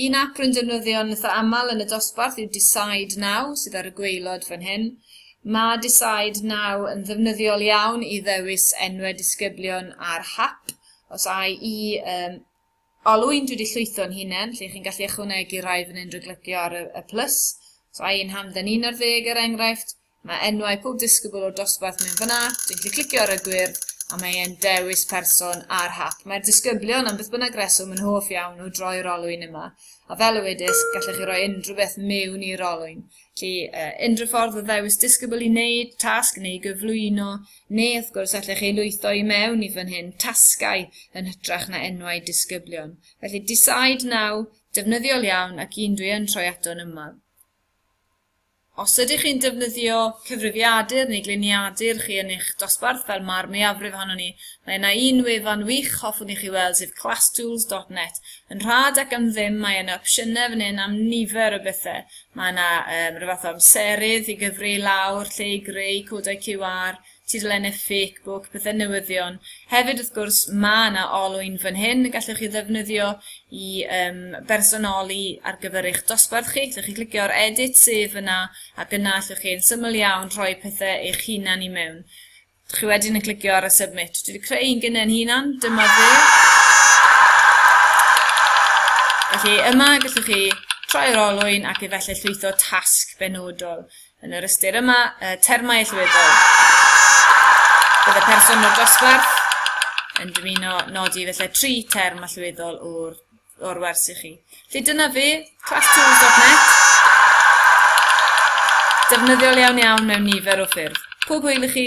Un ap rwy'n defnyddio'n eitha aml yn y dosbarth yw Decide Now, sydd ar y gwaelod fan hyn. Mae Decide Now yn ddefnyddiol iawn i ddewis enwau disgyblion ar hap. Os ai i um, olwyn dwi wedi llwytho'n hunain, lle chi'n gallu ychwanegu rhai fan hyn drwy glicio ar y, y plus. Os ai i'n hamdden 11 er enghraifft, Mae enwau pob disgybl o'r dosbarth mewn fan'na, dwi'n gallu clicio ar y gwyrdd a mae e'n dewis person ar hap. Mae'r disgyblion, am beth bynnag reswm, yn hoff iawn o droi'r olwyn yma, a fel y wedys, gallech chi roi unrhyw beth mewn i'r olwyn. Felly, uh, unrhyw ffordd o ddewis disgybl i wneud tasg neu gyflwyno, neu wrth gwrs allech chi lwytho i mewn i fan hyn tasgau yn hytrach na enwau disgyblion. Felly Decide Now, defnyddiol iawn ac un dwi yn troi ato'n yma. Os ydych chi'n defnyddio cyfrifiadur neu gliniadur chi yn eich dosbarth, fel mae'r mwyafrif ohonon ni, mae yna un wefan wych hoffwn i chi weld sef classtools.net. Yn rhad ac am ddim mae yna opsiynau fan hyn am nifer o bethau. Mae yna um, rhyw fath o amserydd i gyfri lawr lle i greu codau QR, tudalennau ffecbwc, pethe newyddion. Hefyd wrth gwrs mae yna olwyn fan hyn y gallwch chi ddefnyddio i yym bersonoli ar gyfer eich dosbarth chi. Gallwch chi glicio ar edit sef yna ac yna allwch chi yn syml iawn rhoi pethe eich hunan i mewn. Chi wedyn yn clicio ar y submit. Dwi wedi creu un gynnau'n hunan, dyma fe. Felly yma gallwch chi troi'r olwyn ac efallai llwytho tasg benodol. Yn yr ystyr yma, y termau allweddol. Bydd y person o'r dosbarth yn dymuno nodi felly tri term allweddol o'r, or wers i chi. Felly dyna fi, classtools.net. Defnyddiol iawn iawn mewn nifer o ffyrdd. Pob hwyl i chi!